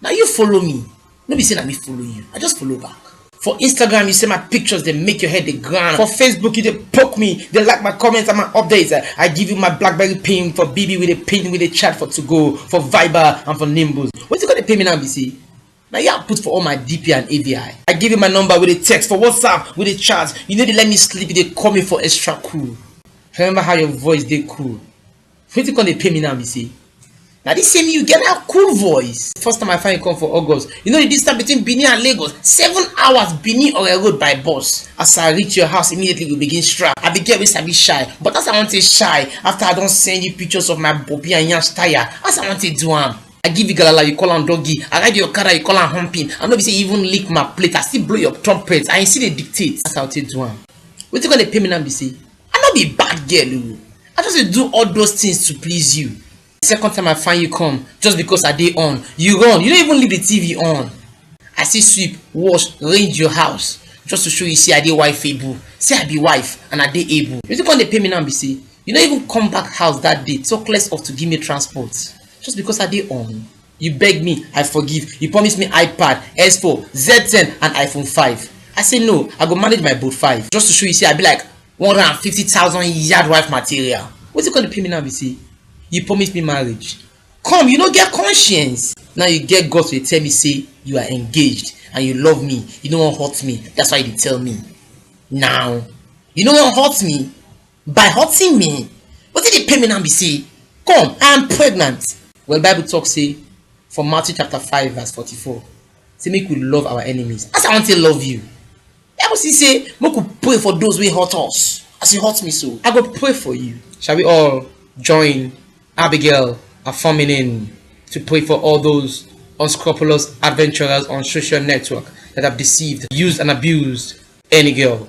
Na you follow me, no be say na me follow you, I just follow back. For Instagram, you say my pictures, they make your head the ground. For Facebook, you they poke me, they like my comments and my updates. I give you my Blackberry pin for BB with a pin with a chat for to go, for Viber and for Nimbus. What's it gonna pay me now, BC? Now you have put for all my DP and AVI. I give you my number with a text for WhatsApp with a chat. You know they let me sleep, they call me for extra cool. Remember how your voice they cool. Wetin come dey pain me now be say na this same you get that cool voice. First time I find you come for August, you know the distance between Benin and Lagos, seven hours Benin Ore road by bus. As I reach your house, immediately we begin strap. I be girl wey sabi shy, but as I wan take shy, after I don send you pictures of my bobi and yansh tire, as I wan take do am? I give you galala, you call am doggy. I ride your okada, you call am humping. I no be say you even lick my plate, I still blow your trumpet and you still dey dictate. As I take do am? Wetin come dey pain me now be say I no be bad girl o, I just dey do all those things to please you. The second time I find you come, just because I dey on, you run, you no even leave the TV on. I still sweep, wash, range your house just to show you say I dey wifeable, say I be wife and I dey able. Wetin come dey pain me now be say you no even come back house that day talk less of to give me transport just because I dey on. You beg me, I forgive. You promise me iPad, S4, Z10 and iPhone 5. I say no, I go manage my boat 5 just to show you say I be like 150,000 yard wife material. What's it going to pay me now be say? You promise me marriage. Come, you no get conscience. Now you get God to tell me say you are engaged and you love me. You no wan hurt me. That's why you dey tell me. Now, you no wan hurt me. By hurting me? Wetin dey pain me now be say, come, I am pregnant. Well, Bible talk say for Matthew chapter 5 verse 44, say make we love our enemies. As I want to love you. Bible still say make we pray for those wey hurt us. As you hurt me so, I go pray for you. Shall we all join Abigail affirming in to pray for all those unscrupulous adventurers on social network that have deceived, used and abused any girl